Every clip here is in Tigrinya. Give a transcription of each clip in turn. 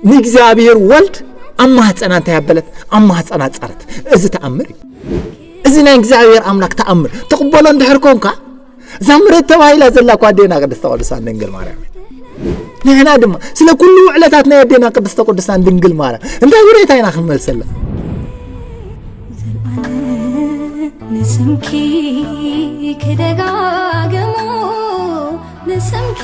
ንእግዚኣብሔር ወልድ ኣብ ማህፀና እንታይ ኣበለት ኣብ ማህፀና ፀረት እዚ ተኣምር እዩ እዚ ናይ እግዚኣብሔር ኣምላክ ተኣምር ትቕበሎ እንድሕር ኮንካ እዛ መሬት ተባሂላ ዘላ እኳ ኣዴና ቅድስተ ቅዱሳን ድንግል ማርያም ንሕና ድማ ስለ ኩሉ ውዕለታት ናይ ኣዴና ቅድስተ ቅዱሳን ድንግል ማርያም እንታይ ውሬታ ኢና ክንመልሰላ ንስምኪ ክደጋግሞ ንስምኪ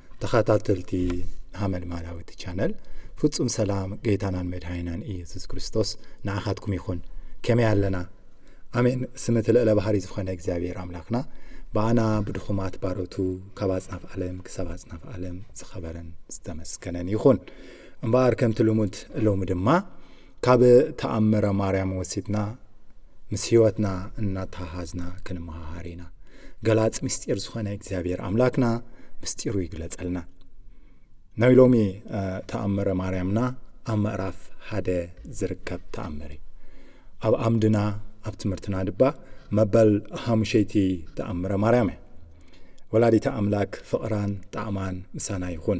ተኸታተልቲ ሃመልማላዊ እቲ ቻነል ፍጹም ሰላም ጌታናን መድሃይናን ኢየሱስ ክርስቶስ ንዓኻትኩም ይኹን ከመይ ኣለና ኣሜን ስም እቲ ልዕለ ባህሪ ዝኾነ እግዚኣብሔር ኣምላኽና ብኣና ብድኹማት ባሮቱ ካብ ኣጽናፍ ዓለም ክሳብ ኣጽናፍ ዓለም ዝኸበረን ዝተመስገነን ይኹን እምበኣር ከምቲ ልሙድ ሎሚ ድማ ካብ ተኣምረ ማርያም ወሲድና ምስ ህይወትና እናተሃሃዝና ክንመሃሃር ኢና ገላጽ ምስጢር ዝኾነ እግዚኣብሔር ኣምላክና ምስጢሩ ይግለጸልና ናይ ሎሚ ተኣምረ ማርያምና ኣብ ምዕራፍ ሓደ ዝርከብ ተኣምር እዩ ኣብ ኣምድና ኣብ ትምህርትና ድባ መበል ሓሙሸይቲ ተኣምረ ማርያም እያ ወላዲታ ኣምላክ ፍቕራን ጣዕማን ምሳና ይኹን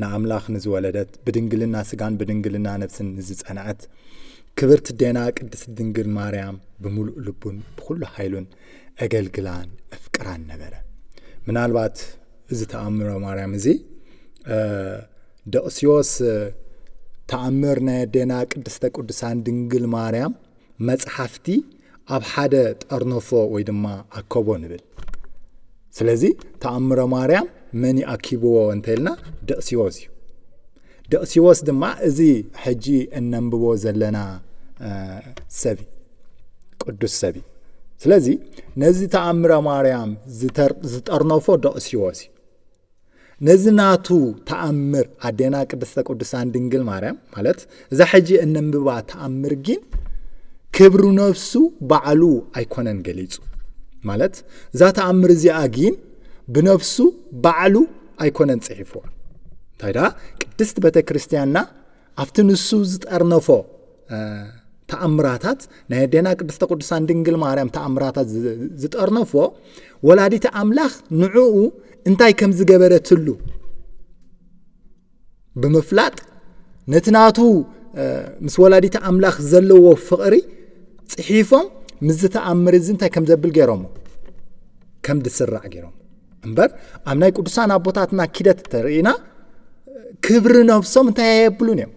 ንኣምላኽ ንዝወለደት ብድንግልና ስጋን ብድንግልና ነፍስን ንዝጸንዐት ክብርቲ ዴና ቅድስት ድንግል ማርያም ብምሉእ ልቡን ብዅሉ ሓይሉን እገልግላን እፍቅራን ነበረ ምናልባት እዚ ተኣምረ ማርያም እዚ ደቕስዮስ ተኣምር ናይ ኣዴና ቅድስተ ቅዱሳን ድንግል ማርያም መጽሓፍቲ ኣብ ሓደ ጠርነፎ ወይ ድማ ኣከቦ ንብል ስለዚ ተኣምረ ማርያም መን ይኣኪብዎ እንተልና ደቕሲዎስ እዩ ደቕሲዎስ ድማ እዚ ሕጂ እነንብቦ ዘለና ሰብ ቅዱስ ሰብ እዩ ስለዚ ነዚ ተኣምረ ማርያም ዝጠርነፎ ደቕሲዎስ እዩ ነዚ ናቱ ተኣምር ኣዴና ቅድስተ ቅዱሳን ድንግል ማርያም ማለት እዛ ሕጂ እነንብባ ተኣምር ጊን ክብሪ ነፍሱ ባዕሉ ኣይኮነን ገሊጹ ማለት እዛ ተኣምር እዚኣ ጊን ብነፍሱ ባዕሉ ኣይኮነን ጽሒፍዋ እንታይ ደኣ ቅድስት ቤተ ክርስቲያንና ኣብቲ ንሱ ዝጠርነፎ ተኣምራታት ናይ ኣዴና ቅድስተ ቅዱሳን ድንግል ማርያም ተኣምራታት ዝጠርነፎ ወላዲተ ኣምላኽ ንዕኡ እንታይ ከም ዝገበረትሉ ብምፍላጥ ነቲ ናቱ ምስ ወላዲተ ኣምላኽ ዘለዎ ፍቕሪ ጽሒፎም ምስ ዝተኣምር እዚ እንታይ ከም ዘብል ገይሮሞ ከም ዝስራዕ ገይሮም እምበር ኣብ ናይ ቅዱሳን ኣቦታትና ኪደት ተርእና ክብሪ ነብሶም እንታይ ኣየብሉን እዮም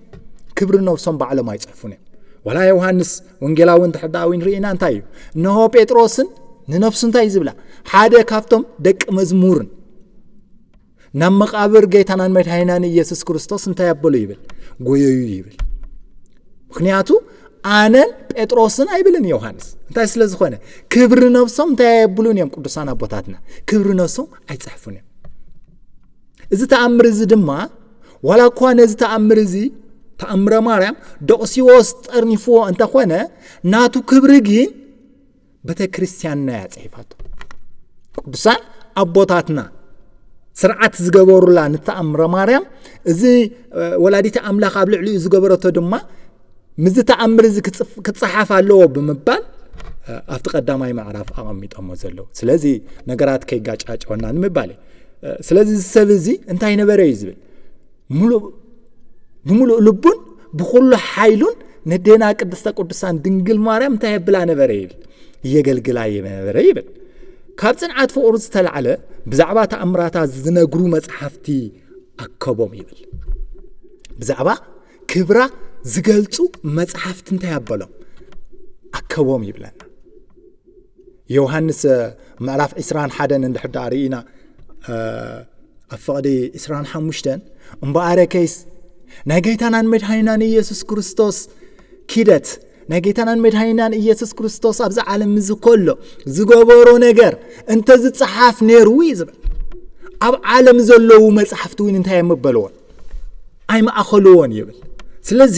ክብሪ ነብሶም ባዕሎም ኣይፅሕፉን እዮም ወላ ዮሃንስ ወንጌላዊ እንተሕዳዊን ርኢና እንታይ እዩ እንሆ ጴጥሮስን ንነብሱ እንታይ ዝብላ ሓደ ካብቶም ደቂ መዝሙርን ናብ መቃብር ጌታናን መድሃይናን ኢየሱስ ክርስቶስ እንታይ ኣበሉ ይብል ጎየዩ ይብል ምክንያቱ ኣነን ጴጥሮስን ኣይብልን ዮሃንስ እንታይ ስለ ዝኾነ ክብሪ ነብሶም እንታይ ኣየብሉን እዮም ቅዱሳን ኣቦታትና ክብሪ ነብሶም ኣይፅሕፉን እዮም እዚ ተኣምር እዚ ድማ ዋላ እኳ ነዚ ተኣምር እዚ ተኣምረ ማርያም ደቕሲዎስ ጠርኒፍዎ እንተኾነ ናቱ ክብሪ ግን ቤተክርስትያንና እያ ጽሒፋቶ ቅዱሳን ኣቦታትና ስርዓት ዝገበሩላ ንተኣምረ ማርያም እዚ ወላዲተ ኣምላኽ ኣብ ልዕሊኡ ዝገበረቶ ድማ ምስዚ ተኣምር እዚ ክፀሓፍ ኣለዎ ብምባል ኣብቲ ቀዳማይ ምዕራፍ ኣቐሚጦሞ ዘለዉ ስለዚ ነገራት ከይጋጫጨወና ንምባል እዩ ስለዚ እዚ ሰብ እዚ እንታይ ነበረ እዩ ዝብል ምሉእ ብምሉእ ልቡን ብኩሉ ሓይሉን ነዴና ቅድስተ ቅዱሳን ድንግል ማርያም እንታይ የብላ ነበረ ይብል እየገልግላ ነበረ ይብል ካብ ፅንዓት ፍቅሩ ዝተላዕለ ብዛዕባ ተኣምራታ ዝነግሩ መፅሓፍቲ ኣከቦም ይብል ብዛዕባ ክብራ ዝገልፁ መፅሓፍቲ እንታይ ኣበሎም ኣከቦም ይብለና ዮውሃንስ ምዕራፍ ዕስራን ሓደን እንድሕር ደኣ ርኢና ኣብ ፍቕዲ ዕስራን ሓሙሽተን እምበኣረ ከይስ ናይ ጌታናን መድሃይናን ኢየሱስ ክርስቶስ ኪደት ናይ ጌታናን መድሃይናን ኢየሱስ ክርስቶስ ኣብዚ ዓለም እዚ ከሎ ዝገበሮ ነገር እንተ ዝፀሓፍ ነይሩ እዩ ዝብል ኣብ ዓለም ዘለዉ መፅሓፍቲ እውን እንታይ የመበልዎን ኣይማእኸልዎን ይብል ስለዚ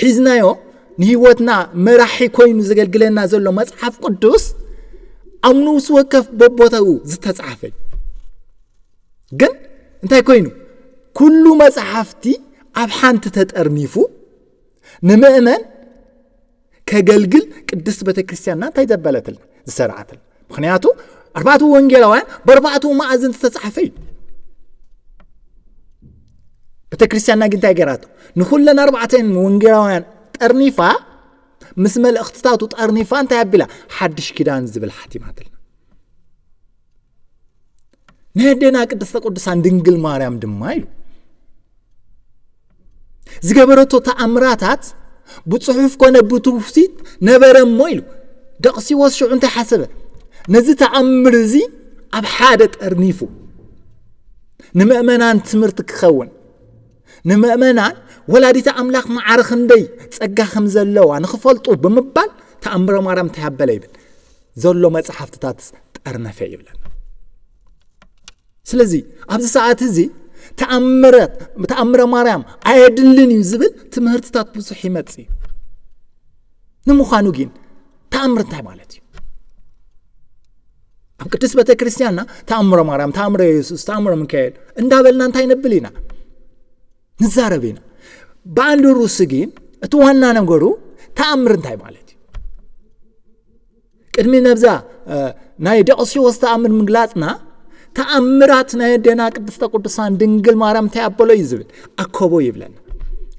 ሒዝናዮ ንህይወትና መራሒ ኮይኑ ዘገልግለና ዘሎ መጽሓፍ ቅዱስ ኣብ ንውስ ወከፍ በቦታኡ ዝተጻሕፈ እዩ ግን እንታይ ኮይኑ ኩሉ መጽሓፍቲ ኣብ ሓንቲ ተጠርኒፉ ንምእመን ከገልግል ቅድስት ቤተ ክርስቲያንና እንታይ ዘበለትልና ዝሰራዓትልና ምክንያቱ ኣርባዕቱ ወንጌላውያን በርባዕቱ መኣዝን ዝተጻሕፈ እዩ ቤተ ክርስቲያንና ግን እንታይ ገራቶ ንኩለን ኣርባዕተን ወንጌላውያን ጠርኒፋ ምስ መልእኽትታቱ ጠርኒፋ እንታይ ኣቢላ ሓድሽ ኪዳን ዝብል ሓቲማትልና ናይ ኣዴና ቅድስተ ቅዱሳን ድንግል ማርያም ድማ ኢሉ ዝገበረቶ ተኣምራታት ብፅሑፍ ኮነ ብትውሲት ነበረ እሞ ኢሉ ደቕሲዎስ ሽዑ እንታይ ሓሰበ ነዚ ተኣምር እዚ ኣብ ሓደ ጠርኒፉ ንምእመናን ትምህርቲ ክኸውን ንምእመናን ወላዲተ ኣምላኽ መዓረ ክንደይ ጸጋ ከም ዘለዋ ንኽፈልጡ ብምባል ተኣምረ ማርያም ተያበለ ይብል ዘሎ መጽሓፍትታት ጠርነፈ ይብለና ስለዚ ኣብዚ ሰዓት እዚ ተኣምረት ተኣምረ ማርያም ኣየድልን እዩ ዝብል ትምህርትታት ብዙሕ ይመፅ እዩ ንምዃኑ ግን ተኣምር እንታይ ማለት እዩ ኣብ ቅዱስ ቤተ ክርስቲያንና ተኣምረ ማርያም ተኣምረ የሱስ ተኣምረ ሚካኤል እንዳበልና እንታይ ነብል ኢና ንዛረብ ኢና ብኣንድ ሩስ ግን እቲ ዋና ነገሩ ተኣምር እንታይ ማለት እዩ ቅድሚ ነብዛ ናይ ደቕሲዎስ ተኣምር ምግላፅና ተኣምራት ናይ ኣዴና ቅድስተ ቅዱሳን ድንግል ማርያም እንታይ ኣበሎ እዩ ዝብል ኣከቦ ይብለና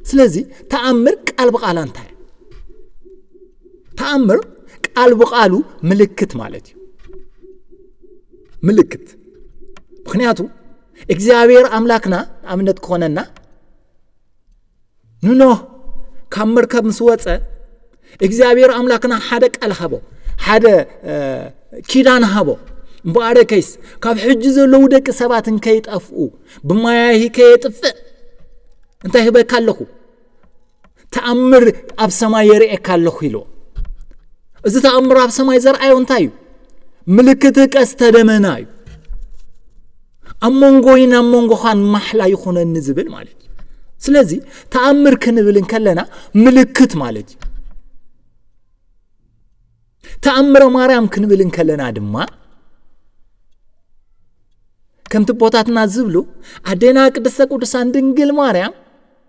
ስለዚ ተኣምር ቃል ብቓላ እንታይ እዩ ተኣምር ቃል ብቓሉ ምልክት ማለት እዩ ምልክት ምክንያቱ እግዚኣብሔር ኣምላክና ኣብነት ክኾነና ንኖህ ካብ መርከብ ምስ ወፀ እግዚኣብሔር ኣምላክና ሓደ ቃል ሃቦ ሓደ ኪዳን ሃቦ እምበኣረ ከይስ ካብ ሕጂ ዘለዉ ደቂ ሰባት እንከይጠፍኡ ብማያሂ ከየጥፍእ እንታይ ህበካ ኣለኹ ተኣምር ኣብ ሰማይ የርእየካ ኣለኹ ኢሎ እዚ ተኣምር ኣብ ሰማይ ዘርኣዮ እንታይ እዩ ምልክት ቀስተ ደመና እዩ ኣብ መንጎይን ኣብ መንጎኻን ማሕላ ይኹነኒ ዝብል ማለት እዩ ስለዚ ተኣምር ክንብል እንከለና ምልክት ማለት እዩ ተኣምረ ማርያም ክንብል እንከለና ድማ ከምቲ ቦታትና ዝብሉ ኣዴና ቅድስተ ቅዱሳን ድንግል ማርያም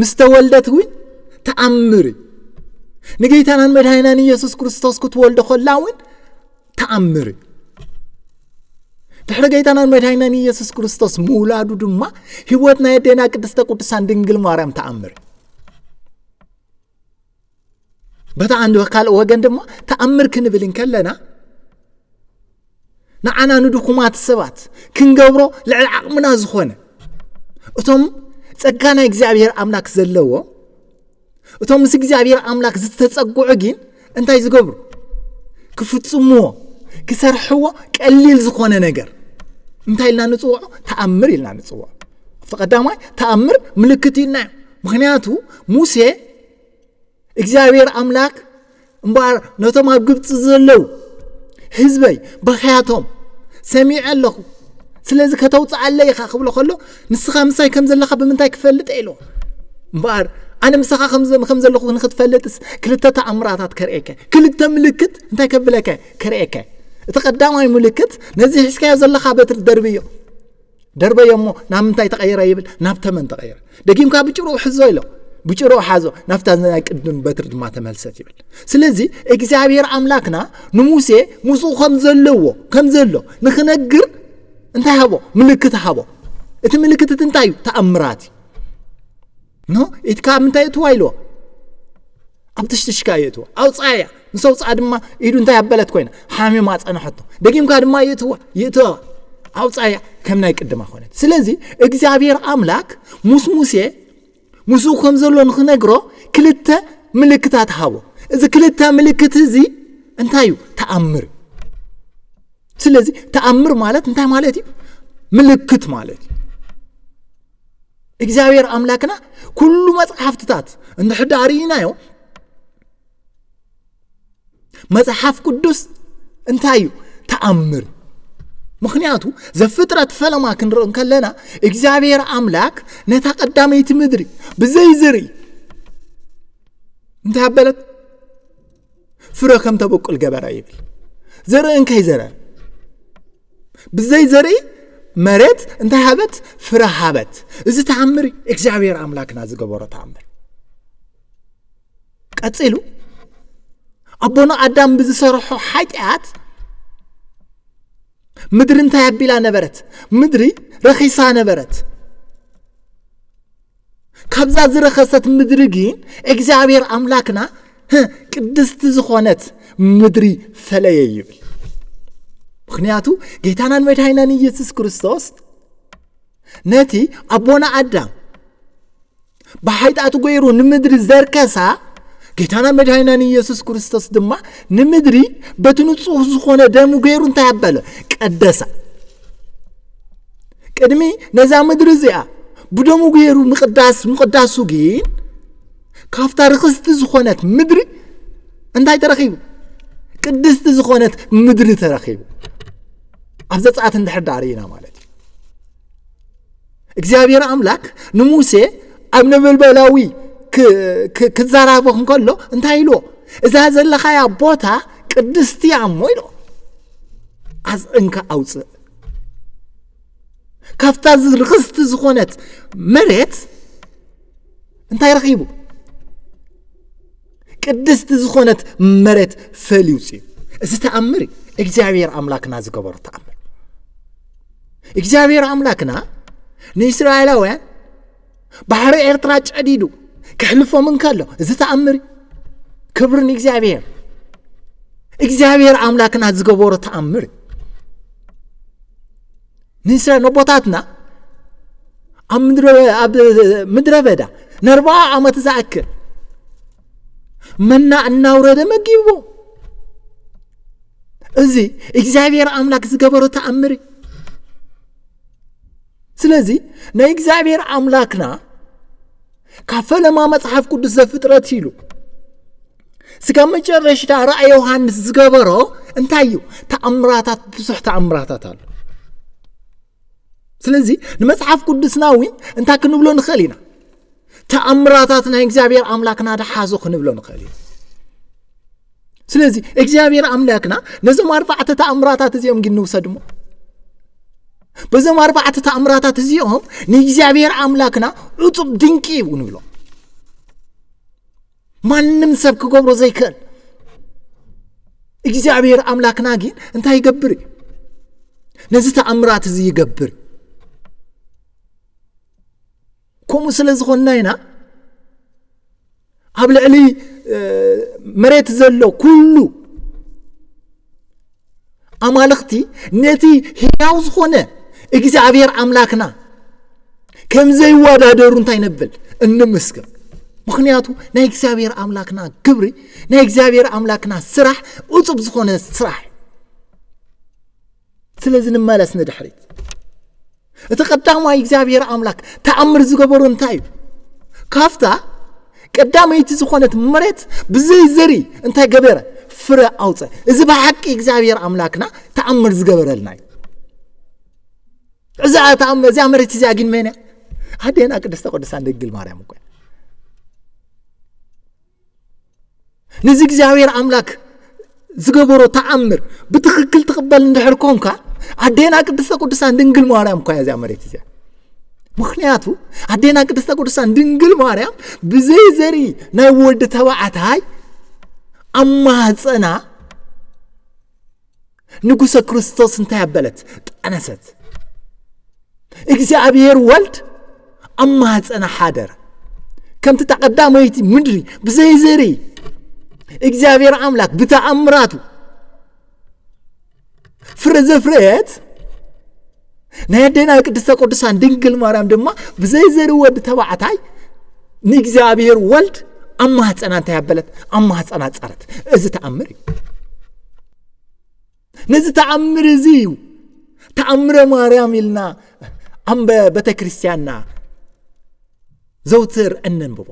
ምስ ተወልደት እውን ተኣምር እዩ ንጌታናን መድሃይናን ኢየሱስ ክርስቶስ ክትወልዶ ከላ እውን ተኣምር እዩ ድሕሪ ጌታናን መድሃይናን ኢየሱስ ክርስቶስ ምውላዱ ድማ ህይወት ናይ ኣዴና ቅድስተ ቅዱሳን ድንግል ማርያም ተኣምር በታ ዓንዲ ካልእ ወገን ድማ ተኣምር ክንብል እንከለና ንዓና ንድኹማት ሰባት ክንገብሮ ልዕሊ ዓቕምና ዝኾነ እቶም ጸጋ ናይ እግዚኣብሔር ኣምላክ ዘለዎ እቶም ምስ እግዚኣብሔር ኣምላክ ዝተጸግዑ ግን እንታይ ዝገብሩ ክፍጽምዎ ክሰርሕዎ ቀሊል ዝኾነ ነገር እንታይ ኢልና ንፅውዖ ተኣምር ኢልና ንፅውዖ ኣብቲ ቀዳማይ ተኣምር ምልክት ኢልና እዩ ምክንያቱ ሙሴ እግዚኣብሔር ኣምላክ እምበኣር ነቶም ኣብ ግብፂ ዘለዉ ህዝበይ በኸያቶም ሰሚዐ ኣለኹ ስለዚ ከተውፅኣለ ኢኻ ክብሎ ከሎ ንስኻ ምሳይ ከም ዘለኻ ብምንታይ ክፈልጥ ኢሎ እምበኣር ኣነ ምሳኻ ከም ዘለኹ ንክትፈልጥስ ክልተ ተኣምራታት ከርእየከ ክልተ ምልክት እንታይ ከብለከ ከርእየከ እቲ ቀዳማይ ምልክት ነዚ ሕዝካዮ ዘለኻ በትሪ ደርቢ እዮ ደርበዮ እሞ ናብ ምንታይ ተቐይረ ይብል ናብ ተመን ተቐይረ ደጊምካ ብጭሩኡ ሕዞ ኢሎ ብጭሩኡ ሓዞ ናብታ ናይ ቅድም በትሪ ድማ ተመልሰት ይብል ስለዚ እግዚኣብሔር ኣምላክና ንሙሴ ምስኡ ከም ዘለዎ ከም ዘሎ ንክነግር እንታይ ሃቦ ምልክት ሃቦ እቲ ምልክት እቲ እንታይ እዩ ተኣምራት እዩ ኖ ኢድ ካብ ምንታይ እትዋ ኢልዎ ኣብ ትሽትሽካ እዩ እትዋ ኣውፅኣ እያ ምስ ኣውፅኣ ድማ ኢዱ እንታይ ኣበለት ኮይና ሓሚማ ፀናሐቶ ደጊምካ ድማ ይእትዋ ይእትዋ ኣውፅኣ እያ ከም ናይ ቅድማ ኮነት ስለዚ እግዚኣብሔር ኣምላክ ምስ ሙሴ ምስኡ ከም ዘሎ ንክነግሮ ክልተ ምልክታት ሃቦ እዚ ክልተ ምልክት እዚ እንታይ እዩ ተኣምር ስለዚ ተኣምር ማለት እንታይ ማለት እዩ ምልክት ማለት እዩ እግዚኣብሔር ኣምላክና ኩሉ መጽሓፍትታት እንድሕዳ ርኢናዮ መጽሓፍ ቅዱስ እንታይ እዩ ተኣምር ምክንያቱ ዘፍጥረት ፈለማ ክንርኢ ከለና እግዚኣብሔር ኣምላክ ነታ ቀዳመይቲ ምድሪ ብዘይ ዝርኢ እንታይ ኣበለት ፍረ ከም ተበቁል ገበራ ይብል ዘርኢ እንከይ ዘረ ብዘይ ዘርኢ መሬት እንታይ ሃበት ፍረ ሃበት እዚ ተኣምር እግዚኣብሔር ኣምላክና ዝገበሮ ተኣምር ቀፂሉ ኣቦና ኣዳም ብዝሰርሖ ሓጢኣት ምድሪ እንታይ ኣቢላ ነበረት ምድሪ ረኺሳ ነበረት ካብዛ ዝረኸሰት ምድሪ ግን እግዚኣብሔር ኣምላክና ቅድስቲ ዝኾነት ምድሪ ፈለየ ይብል ምክንያቱ ጌታናን መድሃይናን ኢየሱስ ክርስቶስ ነቲ ኣቦና ኣዳም ብሓይጣቱ ገይሩ ንምድሪ ዘርከሳ ጌታና መድሃይናን ኢየሱስ ክርስቶስ ድማ ንምድሪ በቲ ንጹህ ዝኾነ ደሙ ገይሩ እንታይ ኣበለ ቀደሳ ቅድሚ ነዛ ምድሪ እዚኣ ብደሙ ገይሩ ምቕዳስ ምቕዳሱ ግን ካብታ ርኽስቲ ዝኾነት ምድሪ እንታይ ተረኺቡ ቅድስቲ ዝኾነት ምድሪ ተረኺቡ ኣብ ዘፀኣት እንድሕር ዳር ኢና ማለት እዩ እግዚኣብሔር ኣምላክ ንሙሴ ኣብ ነበልበላዊ ክዘራቦ እንከሎ እንታይ ኢልዎ እዛ ዘለኻያ ቦታ ቅድስቲ እያ እሞ ኢልዎ ኣፅዕንካ ኣውፅእ ካብታ ርክስቲ ዝኾነት መሬት እንታይ ረኺቡ ቅድስቲ ዝኾነት መሬት ፈልዩ ውፅኡ እዚ ተኣምር እዩ እግዚኣብሔር ኣምላክና ዝገበሮ ተኣምር እግዚኣብሔር ኣምላክና ንእስራኤላውያን ባሕሪ ኤርትራ ጨዲዱ ክሕልፎም እንከሎ እዚ ተኣምር ክብሪ ንእግዚኣብሔር እግዚኣብሔር ኣምላክና ዝገበሮ ተኣምር ንስለ ነቦታትና ኣብ ምድረ በዳ ንኣርባዓ ዓመት ዝኣክል መና እናውረደ መጊቡ እዚ እግዚኣብሔር ኣምላክ ዝገበሮ ተኣምር እዩ ስለዚ ናይ እግዚኣብሔር ኣምላክና ካብ ፈለማ መጽሓፍ ቅዱስ ዘፍጥረት ኢሉ ስጋብ መጨረሽታ ራእይ ዮሃንስ ዝገበሮ እንታይ እዩ ተኣምራታት ብዙሕ ተኣምራታት ኣሎ ስለዚ ንመጽሓፍ ቅዱስና እውን እንታይ ክንብሎ ንኽእል ኢና ተኣምራታት ናይ እግዚኣብሔር ኣምላክና ድሓዞ ክንብሎ ንኽእል ኢና ስለዚ እግዚኣብሔር ኣምላክና ነዞም ኣርባዕተ ተኣምራታት እዚኦም ግን ንውሰድ እሞ በዞም ኣርባዕተ ተኣምራታት እዚኦም ንእግዚኣብሔር ኣምላክና ዕፁብ ድንቂ እዩ ንብሎ ማንም ሰብ ክገብሮ ዘይክእል እግዚኣብሔር ኣምላክና ግን እንታይ ይገብር እዩ ነዚ ተኣምራት እዚ ይገብር ከምኡ ስለ ዝኾንና ኢና ኣብ ልዕሊ መሬት ዘሎ ኩሉ ኣማልኽቲ ነቲ ህያው ዝኾነ እግዚኣብሔር ኣምላክና ከም ዘይወዳደሩ እንታይ ነብል እንምስክር ምክንያቱ ናይ እግዚኣብሔር ኣምላክና ክብሪ ናይ እግዚኣብሔር ኣምላክና ስራሕ እፁብ ዝኾነ ስራሕ ስለዚ ንመለስ ንድሕሪት እቲ ቀዳማይ እግዚኣብሔር ኣምላክ ተኣምር ዝገበሮ እንታይ እዩ ካብታ ቀዳመይቲ ዝኾነት መሬት ብዘይ ዘሪ እንታይ ገበረ ፍረ ኣውፀ እዚ ብሓቂ እግዚኣብሔር ኣምላክና ተኣምር ዝገበረልና እዩ እዛ ተኣምር እዚኣ መሬት እዚኣ ግን መን እያ ኣዴና ቅድስተ ቅዱሳን ድንግል ማርያም እኮ እያ ነዚ እግዚኣብሔር ኣምላክ ዝገበሮ ተኣምር ብትክክል ትቕበል እንድሕር ኮንካ ኣዴና ቅድስተ ቅዱሳን ድንግል ማርያም እኳ እዚኣ መሬት እዚኣ ምክንያቱ ኣዴና ቅድስተ ቅዱሳን ድንግል ማርያም ብዘይ ዘርኢ ናይ ወዲ ተባዕታይ ኣብ ማህፀና ንጉሰ ክርስቶስ እንታይ ኣበለት? ጠነሰት። እግዚኣብሔር ወልድ ኣብ ማህፀና ሓደረ። ከምቲ ተቐዳመይቲ ምድሪ ብዘይ ዘሪ እግዚኣብሔር ኣምላክ ብተኣምራቱ ፍረ ዘፍረየት ናይ ኣዴና ቅድስተ ቅዱሳን ድንግል ማርያም ድማ ብዘይ ዘርኢ ወዲ ተባዕታይ ንእግዚኣብሔር ወልድ ኣብ ማህፀና እንታይ ኣበለት ኣብ ማህፀና ፀረት እዚ ተኣምር እዩ ነዚ ተኣምር እዚ እዩ ተኣምረ ማርያም ኢልና ኣምበ ቤተ ክርስቲያንና ዘውትር እነንብቦ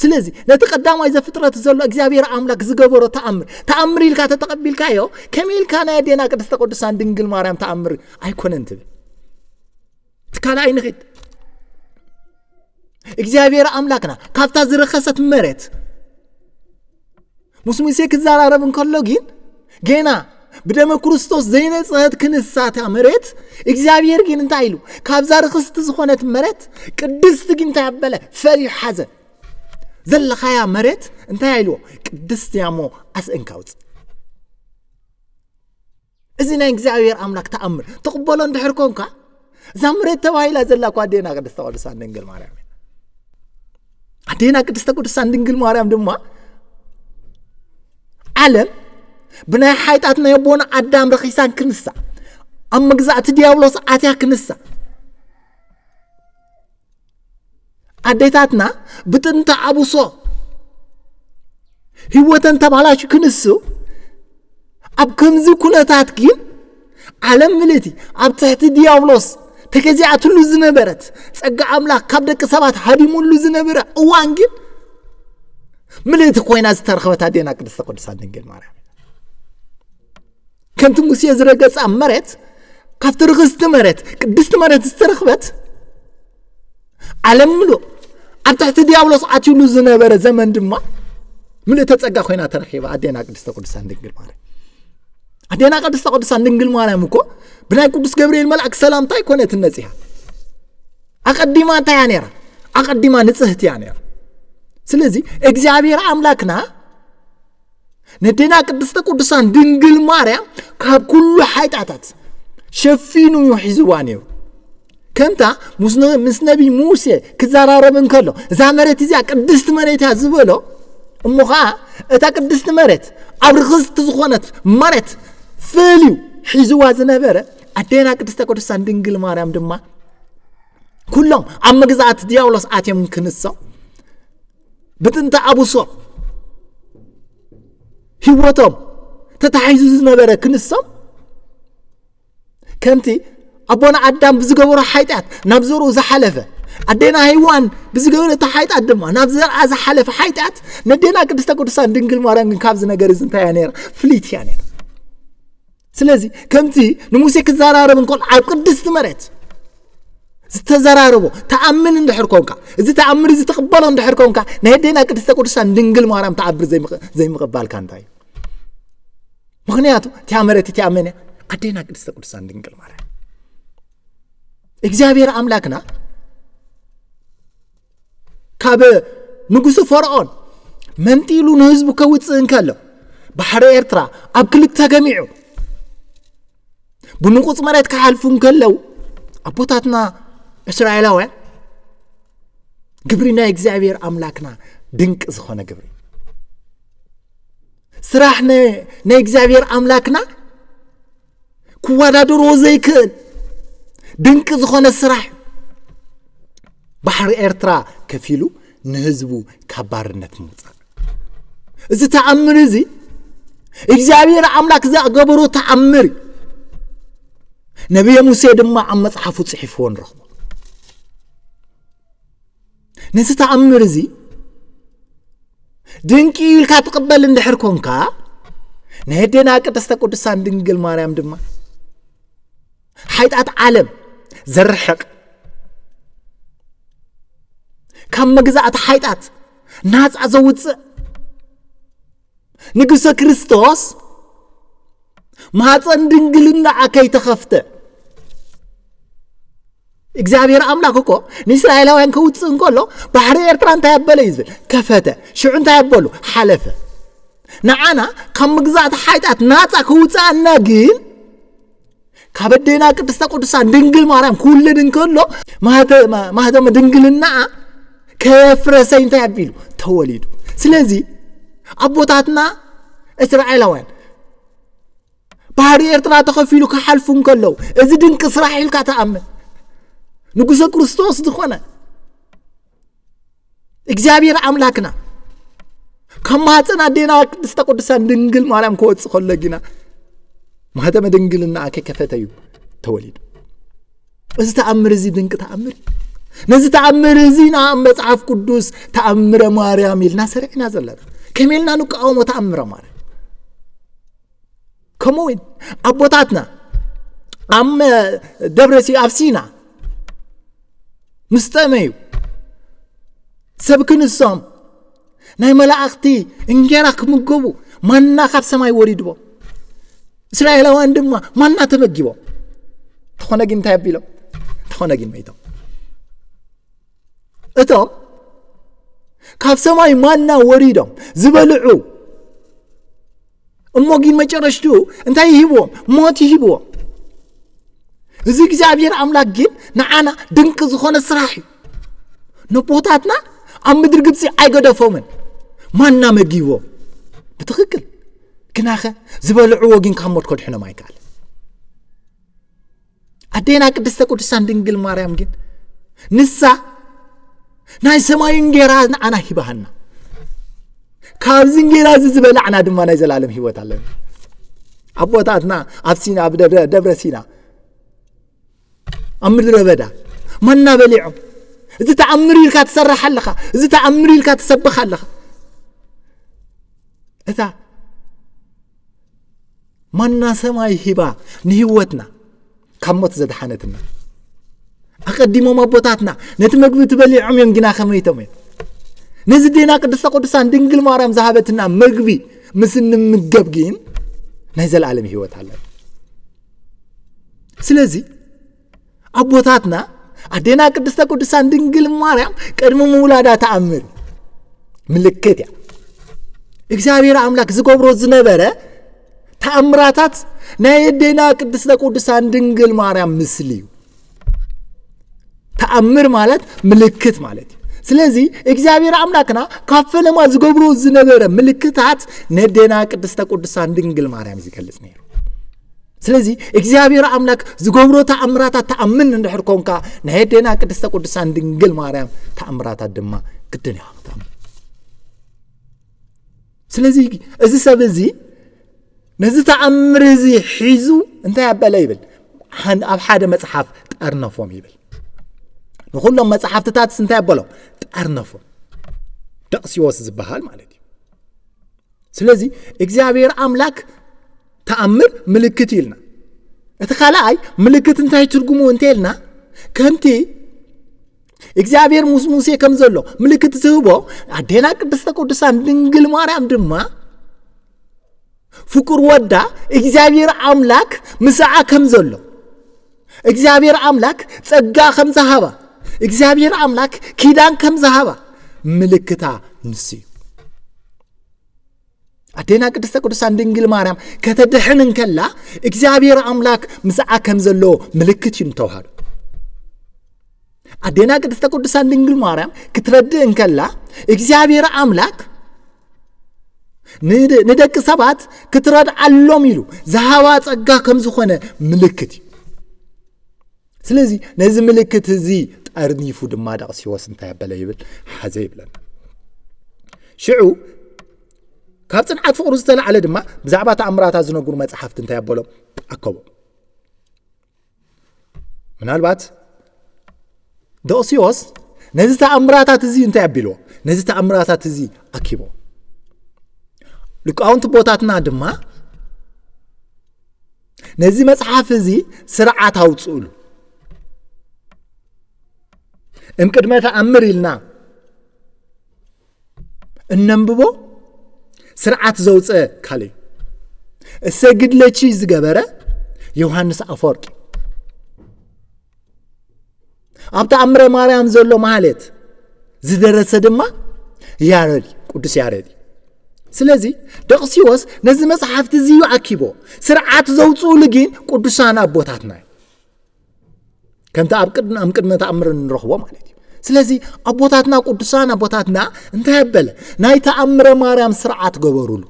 ስለዚ ነቲ ቀዳማይ ዘፍጥረት ዘሎ እግዚኣብሔር ኣምላክ ዝገበሮ ተኣምር ተኣምር ኢልካ ተተቐቢልካዮ ከመይ ኢልካ ናይ ኣዴና ቅድስተ ቅዱሳን ድንግል ማርያም ተኣምር ኣይኮነን ትብል እቲ ካልኣይ ንኺድ እግዚኣብሔር ኣምላክና ካብታ ዝረኸሰት መሬት ምስ ሙሴ ክዘራረብ እንከሎ ግን ገና ብደመ ክርስቶስ ዘይነፅሀት ክንሳታ መሬት እግዚኣብሔር ግን እንታይ ኢሉ ካብዛ ርክስቲ ዝኾነት መሬት ቅድስቲ ግን እንታይ ኣበለ ፈልዩ ሓዘ ዘለኻያ መሬት እንታይ ኢልዎ ቅድስቲ እያ እሞ ኣስእንካ ውፅእ እዚ ናይ እግዚኣብሔር ኣምላክ ተኣምር ትቕበሎ እንድሕር ኮንካ እዛ መሬት ተባሂላ ዘላ እኳ ኣዴና ቅድስተ ቅዱሳን ድንግል ማርያም እያ ኣዴና ቅድስተ ቅዱሳን ድንግል ማርያም ድማ ዓለም ብናይ ሓይጣት ናይ ኣቦና ኣዳም ረኺሳን ክንሳ ኣብ መግዛእቲ ዲያብሎስ ኣትያ ክንሳ ኣዴታትና ብጥንተ ኣቡሶ ህይወተን ተባላሽ ክንሱ ኣብ ከምዚ ኩነታት ግን ዓለም ምልእቲ ኣብ ትሕቲ ዲያብሎስ ተገዚኣትሉ ዝነበረት ጸጋ ኣምላኽ ካብ ደቂ ሰባት ሃዲሙሉ ዝነበረ እዋን ግን ምልእቲ ኮይና ዝተረኸበት ኣዴና ቅድስተ ቅዱሳን ድንግል ማርያም ከምቲ ሙሴ ዝረገጸ መሬት ካብቲ ርኽስቲ መሬት ቅድስቲ መሬት ዝተረኽበት ዓለም ምሉእ ኣብ ትሕቲ ዲያብሎስ ዓትሉ ዝነበረ ዘመን ድማ ምልእተ ጸጋ ኮይና ተረኪባ ኣዴና ቅድስተ ቅዱሳን ድንግል ማርያም ኣዴና ቅድስተ ቅዱሳን ድንግል ማርያም እኮ ብናይ ቅዱስ ገብርኤል መልኣክ ሰላምታ ኣይኮነትን መጺኣ ኣቐዲማ እንታይ እያ ነይራ ኣቐዲማ ንጽህቲ እያ ነይራ ስለዚ እግዚኣብሔር ኣምላክና ነዴና ቅድስተ ቅዱሳን ድንግል ማርያም ካብ ኩሉ ሓይጣታት ሸፊኑ እዩ ሒዝዋ ነይሩ ከምታ ምስ ነቢ ሙሴ ክዘራረብ እንከሎ እዛ መሬት እዚኣ ቅድስቲ መሬት እያ ዝበሎ እሞ ከዓ እታ ቅድስቲ መሬት ኣብ ርክስቲ ዝኾነት መሬት ፈልዩ ሒዝዋ ዝነበረ ኣዴና ቅድስተ ቅዱሳን ድንግል ማርያም ድማ ኩሎም ኣብ መግዛእቲ ዲያብሎስ ኣትዮም ክንሶም ብጥንቲ ዓቡሶም ህይወቶም ተታሒዙ ዝነበረ ክንሶም ከምቲ ኣቦና ኣዳም ብዝገበሮ ሓጢኣት ናብ ዘርኡ ዝሓለፈ ኣዴና ሄዋን ብዝገበረቶ ሓጢኣት ድማ ናብ ዘርኣ ዝሓለፈ ሓጢኣት ነዴና ቅድስተ ቅዱሳን ድንግል ማርያም ግን ካብዚ ነገር እዚ እንታይ እያ ነራ ፍልይቲ እያ ነራ ስለዚ ከምቲ ንሙሴ ክዘራረብ እንከሎ ኣብ ቅድስቲ መሬት ዝተዘራረቦ ተኣምን እንድሕር ኮንካ እዚ ተኣምር እዚ ትቕበሎ እንድሕር ኮንካ ናይ ደና ቅድስተ ቅዱሳን ድንግል ማርያም ተዓብር ዘይምቕባልካ እንታይ እዩ ምክንያቱ እቲያ መሬት እቲያ መን እያ ኣዴና ቅድስተ ቅዱሳን ድንግል ማርያም እግዚኣብሔር ኣምላክና ካብ ንጉሱ ፈርዖን መንጢሉ ንህዝቡ ከውፅእ እንከሎ ባሕሪ ኤርትራ ኣብ ክልተ ተገሚዑ ብንቑፅ መሬት ክሓልፉ እንከለው ኣቦታትና እስራኤላውያን ግብሪ ናይ እግዚኣብሔር ኣምላክና ድንቂ ዝኾነ ግብሪ ስራሕ ናይ እግዚኣብሔር ኣምላክና ክወዳደርዎ ዘይክእል ድንቂ ዝኾነ ስራሕ ባሕሪ ኤርትራ ከፊሉ ንህዝቡ ካብ ባርነት ምውፃእ እዚ ተኣምር እዚ እግዚኣብሔር ኣምላክ ዘገበሮ ተኣምር ነብየ ሙሴ ድማ ኣብ መፅሓፉ ፅሒፍዎ ንረኽቦ ነቲ ተኣምር እዚ ድንቂ ኢልካ ትቕበል እንድሕር ኮንካ ናይ ኣዴና ቅድስተ ቅዱሳን ድንግል ማርያም ድማ ሓይጣት ዓለም ዘርሕቕ ካብ መግዛእቲ ሓይጣት ናፃ ዘውፅእ ንጉሰ ክርስቶስ ማህፀን ድንግልናኣ ከይተኸፍተ እግዚኣብሔር ኣምላክ እኮ ንእስራኤላውያን ከውፅእ እንከሎ ባሕሪ ኤርትራ እንታይ ኣበለ እዩ ዝብል ከፈተ ሽዑ እንታይ ኣበሉ ሓለፈ ንዓና ካብ ምግዛእቲ ሓይጣት ናፃ ክውፅኣና ግን ካብ ኣዴና ቅድስተ ቅዱሳን ድንግል ማርያም ክውለድ እንከሎ ማህተመ ድንግልና ከየፍረሰ እንታይ ኣቢሉ ተወሊዱ ስለዚ ኣቦታትና እስራኤላውያን ባህሪ ኤርትራ ተኸፊሉ ክሓልፉ እንከለዉ እዚ ድንቂ ስራሕ ኢልካ ተኣምን ንጉሰ ክርስቶስ ዝኾነ እግዚኣብሔር ኣምላክና ካብ ማህፀን ኣዴና ቅድስተ ቅዱሳን ድንግል ማርያም ክወፅእ ከሎ ጊና ማህተመ ድንግልና ከይከፈተ እዩ ተወሊዱ እዚ ተኣምር እዚ ድንቂ ተኣምር ነዚ ተኣምር እዚ ናብ መፅሓፍ ቅዱስ ተኣምረ ማርያም ኢልና ሰሪዕና ዘለና ከመይ ኢልና ንቃወሞ ተኣምረ ማርያም ከምኡ እውን ኣቦታትና ኣብ ደብረ ኣብ ሲና ምስ ጠመዩ ሰብ ክንሶም ናይ መላእኽቲ እንጌራ ክምገቡ ማና ካብ ሰማይ ወሪድዎ እስራኤላውያን ድማ ማና ተመጊቦ እንተኾነ ግን እንታይ ኣቢሎም እንተኾነ ግን መይቶም እቶም ካብ ሰማይ ማና ወሪዶም ዝበልዑ እሞ ግን መጨረሽትኡ እንታይ ይህብዎም ሞት ይህብዎም እዚ እግዚኣብሔር ኣምላክ ግን ንዓና ድንቂ ዝኾነ ስራሕ እዩ ነቦታትና ኣብ ምድሪ ግብፂ ኣይገደፎምን ማና መጊቦም ብትክክል ግናኸ ዝበልዕዎ ግን ካብ ሞት ከድሕኖም ኣይከኣል ኣዴና ቅድስተ ቅዱሳን ድንግል ማርያም ግን ንሳ ናይ ሰማይ እንጌራ ንዓና ሂባሃና ካብዚ እንጌራ እዚ ዝበላዕና ድማ ናይ ዘላለም ህይወት ኣለና ኣቦታትና ኣብ ሲና ኣብ ደብረ ሲና ኣብ ምድረ በዳ ማና በሊዖም እዚ ተኣምር ኢልካ ትሰርሕ ኣለኻ እዚ ተኣምር ኢልካ ትሰብኽ ኣለኻ እታ ማና ሰማይ ሂባ ንህይወትና ካብ ሞት ዘድሓነትና ኣቐዲሞም ኣቦታትና ነቲ መግቢ ትበሊዖም እዮም ግና ከመይቶም እዮም ነዚ ዴና ቅድስተ ቅዱሳን ድንግል ማርያም ዝሃበትና መግቢ ምስ እንምገብ ግን ናይ ዘለኣለም ህይወት ኣለና ስለዚ ኣቦታትና ኣዴና ቅድስተ ቅዱሳን ድንግል ማርያም ቅድሚ ምውላዳ ተኣምር ምልክት እያ እግዚኣብሔር ኣምላክ ዝገብሮ ዝነበረ ተኣምራታት ናይ ኣዴና ቅድስተ ቅዱሳን ድንግል ማርያም ምስሊ እዩ ተኣምር ማለት ምልክት ማለት እዩ ስለዚ እግዚኣብሔር ኣምላክና ካብ ፈለማ ዝገብሮ ዝነበረ ምልክታት ነዴና ቅድስተ ቅዱሳን ድንግል ማርያም ዝገልጽ ነይሩ ስለዚ እግዚኣብሔር ኣምላክ ዝገብሮ ተኣምራታት ተኣምን እንድሕር ኮንካ ናይ ኣዴና ቅድስተ ቅዱሳን ድንግል ማርያም ተኣምራታት ድማ ግድን ኢኻ ክትኣምን ስለዚ እዚ ሰብ እዚ ነዚ ተኣምር እዚ ሒዙ እንታይ ኣበለ ይብል ኣብ ሓደ መፅሓፍ ጠርነፎም ይብል ንኩሎም መፅሓፍትታትስ እንታይ ኣበሎም ጠርነፎም ደቕሲዎስ ዝበሃል ማለት እዩ ስለዚ እግዚኣብሔር ኣምላክ ተኣምር ምልክት እዩ ኢልና እቲ ካልኣይ ምልክት እንታይ ትርጉሙ እንተ ኢልና ከምቲ እግዚኣብሔር ምስ ሙሴ ከም ዘሎ ምልክት ዝህቦ ኣዴና ቅድስተ ቅዱሳን ድንግል ማርያም ድማ ፍቁር ወዳ እግዚኣብሔር ኣምላክ ምስዓ ከም ዘሎ እግዚኣብሔር ኣምላክ ጸጋ ከም ዝሃባ እግዚኣብሔር ኣምላክ ኪዳን ከም ዝሃባ ምልክታ ንሱ እዩ ኣዴና ቅድስተ ቅዱሳን ድንግል ማርያም ከተድሕን እንከላ እግዚኣብሔር ኣምላክ ምስዓ ከም ዘለዎ ምልክት እዩ ንተዋህዶ ኣዴና ቅድስተ ቅዱሳን ድንግል ማርያም ክትረድእ እንከላ እግዚኣብሔር ኣምላክ ንደቂ ሰባት ክትረድዓሎም ኢሉ ዝሃባ ጸጋ ከም ዝኾነ ምልክት እዩ ስለዚ ነዚ ምልክት እዚ ጠርኒፉ ድማ ደቕሲዎስ እንታይ ኣበለ ይብል ሓዘ ይብለና ሽዑ ካብ ፅንዓት ፍቕሩ ዝተላዕለ ድማ ብዛዕባ ተኣምራታት ዝነግሩ መፅሓፍቲ እንታይ ኣበሎም ኣከቦ ምናልባት ደቕሲዎስ ነዚ ተኣምራታት እዚ እንታይ ኣቢልዎ ነዚ ተኣምራታት እዚ ኣኪቦ ልቃውንቲ ቦታትና ድማ ነዚ መጽሓፍ እዚ ስርዓት ኣውፅእሉ እምቅድመ ተኣምር ኢልና እነንብቦ ስርዓት ዘውፀ ካልእ እዩ እሰ ግድለቺ ዝገበረ ዮሃንስ ኣፈወርቂ ኣብ ተኣምረ ማርያም ዘሎ ማህሌት ዝደረሰ ድማ ያረድ ቅዱስ ያረድ እዩ ስለዚ ደቕሲዎስ ነዚ መፅሓፍቲ እዚ እዩ ኣኪቦ ስርዓት ዘውፅኡሉ ግን ቅዱሳን ኣቦታትና እዩ ከምቲ ኣብ ቅድሚ ኣብ ቅድመ ተኣምር እንረኽቦ ማለት እዩ ስለዚ ኣቦታትና ቅዱሳን ኣቦታትና እንታይ ኣበለ ናይ ተኣምረ ማርያም ስርዓት ገበሩሉ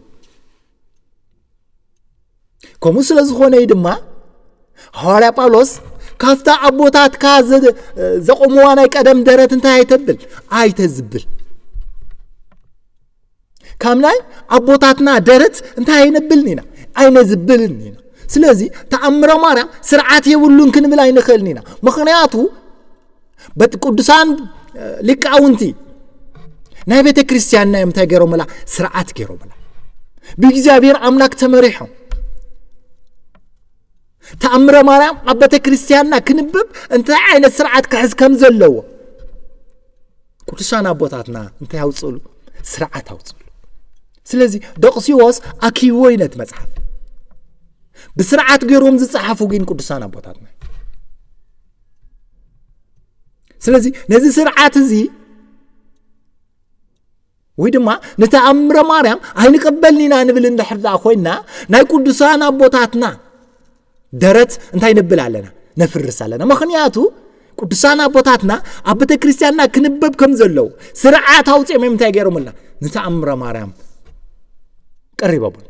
ከምኡ ስለ ዝኾነ እዩ ድማ ሃዋርያ ጳውሎስ ካብታ ኣቦታትካ ዘቆምዋ ናይ ቀደም ደረት እንታይ ኣይተብል ኣይተዝብል ካብ ናይ ኣቦታትና ደረት እንታይ ኣይነብልን ኢና ኣይነዝብልን ኢና ስለዚ ተኣምረ ማርያም ስርዓት የብሉን ክንብል ኣይንኽእልን ኢና ምክንያቱ በቲ ቅዱሳን ሊቃውንቲ ናይ ቤተ ክርስቲያንና እዮም እንታይ ገይሮምላ ስርዓት ገይሮምላ ብእግዚኣብሔር ኣምላክ ተመሪሖም ተኣምረ ማርያም ኣብ ቤተ ክርስቲያንና ክንብብ እንታይ ዓይነት ስርዓት ክሕዝ ከም ዘለዎ ቅዱሳን ኣቦታትና እንታይ ኣውፅእሉ ስርዓት ኣውፅእሉ ስለዚ ደቕሲዎስ ኣኪዎ እዩ ነቲ መፅሓፍ ብስርዓት ገይሮም ዝፀሓፉ ግን ቅዱሳን ኣቦታትና ስለዚ ነዚ ስርዓት እዚ ወይ ድማ ንተኣምረ ማርያም ኣይንቀበልን ኢና ንብል እንድሕር ደኣ ኮይና ናይ ቅዱሳን ኣቦታትና ደረት እንታይ ነብል ኣለና ነፍርስ ኣለና ምክንያቱ ቅዱሳን ኣቦታትና ኣብ ቤተ ክርስትያንና ክንበብ ከም ዘለዉ ስርዓት ኣውፅኦም እዮም እንታይ ገይሮምልና ንተኣምረ ማርያም ቀሪቦምልና